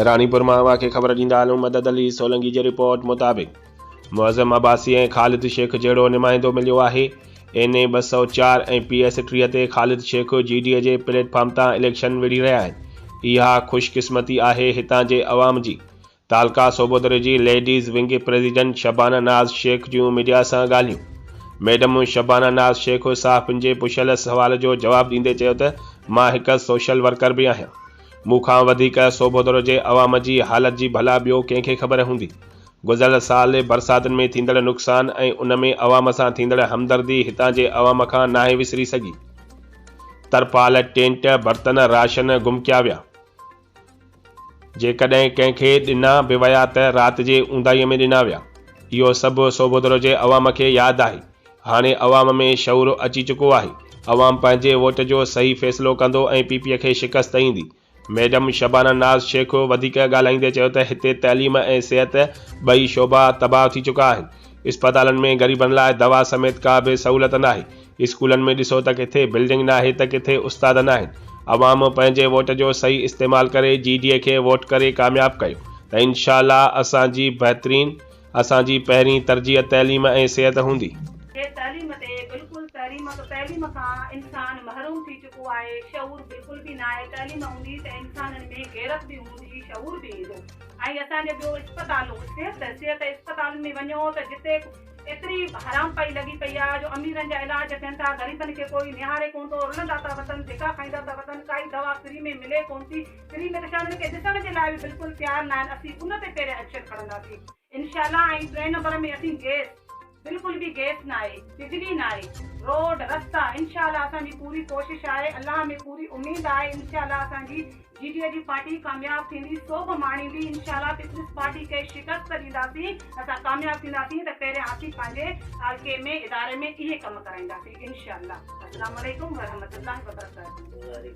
راڻيپور مان اوهان کي خبر ڏيندا هلون مدد علي سولنگي جي رپورٽ مطابق معظم عباسي ۽ خالد شيخ جهڙو نمائندو مليو آهي اين اي ٻه سؤ چار ۽ پي ايس ٽيهه تي Khalid Shaikh G D A جي پليٽ فارم تان اليڪشن وڙهي رهيا آهن اها خوش قسمتي آهي هتان جي عوام جي تعلقه صوبودري جي ladies wing president Shabana Naz Shaikh جون ميڊيا سان ڳالهيون ميڊم شبانه ناز شيخ صحافين جي پڇيل سوال جو جواب ڏيندي چيو ته مان هڪ سوشل ورڪر به آهيان مون کان وڌيڪ سوڀودڙ جي عوام جي حالت جي ڀلا ٻيو ڪنهن کي خبر هوندي. گذريل سال برساتن ۾ ٿيندڙ نقصان ۽ ان ۾ عوام سان ٿيندڙ همدردي هتان جي عوام کان ناهي وسري سگهي. ترپال، ٽينٽ، برتن، راشن گم ڪيا ويا. جيڪڏهن ڪنهن کي ڏنا به ويا ته رات جي اونداهيء ۾ ڏنا ويا. اهو سڀ سوڀودڙ جي عوام کي ياد آهي. هاڻي عوام ۾ شعور اچي چڪو آهي، عوام پنهنجي ووٽ جو صحيح فيصلو ڪندو ۽ پي پي کي شڪست ايندي. ميڊم شبانه ناز شيخ وڌيڪ ڳالهائيندي چيو ته هتي تعليم ۽ صحت ٻئي شعبا تباهه ٿي چڪا آهن، اسپتالن ۾ غريبن لاء دوا سميت ڪا به سهولت ناهي، اسڪولن ۾ ڏسو ته ڪٿي بلڊنگ ناهي ته ڪٿي استاد ناهن، عوام پنهنجي ووٽ جو صحيح استعمال ڪري جي ڊي اي کي ووٽ ڪري ڪامياب ڪيو ته انشاء الله اسان جي بهترين اسان جي پهرين ترجيح تعليم ۽ صحت هوندي. جي تعليم تي بلڪل تحريم ته تعليم کان انسان محروم ٿي چڪو آهي شعور بلڪل به ناهي تعليم هوندي ته انسانن ۾ غيرت به هوندي شعور به ايندو ۽ اسان جي ٻيو اسپتالون صحت صحت اسپتالن ۾ وڃو ته جتي ايتري حرامپائي لڳي پئي آهي جو اميرن جا علاج ٿين ٿا غريبن کي ڪوئي نهاري ڪونه ٿو رلندا ٿا وتن ڌڪا کائيندا ٿا وتن ڪائي دوا فري ۾ ملي ڪونه ٿي سري ملڪاند کي ڏسڻ جي لاء به بلڪل تيار ناهن اسين ان تي پهرين ايڪشن کڻنداسين انشاء الله ۽ ٽئين نمبر ۾ اسين گيس بلڪل به گيس ناهي بجلي ناهي روڊ رستا انشاء الله اسان جي پوري ڪوشش آهي الله ۾ پوري اميد آهي انشاء الله اسان جي جي ڊي اي جي پارٽي ڪامياب ٿيندي سو به ماڻيندي انشاء الله پيپلز پارٽي کي شڪست ڏينداسين اسان ڪامياب ٿينداسين ته پهرين اسين پنهنجي حلقي ۾ اداري ۾ اهي ڪم ڪرائينداسين انشاء الله السلام عليڪم ورحمة الله وبرڪاته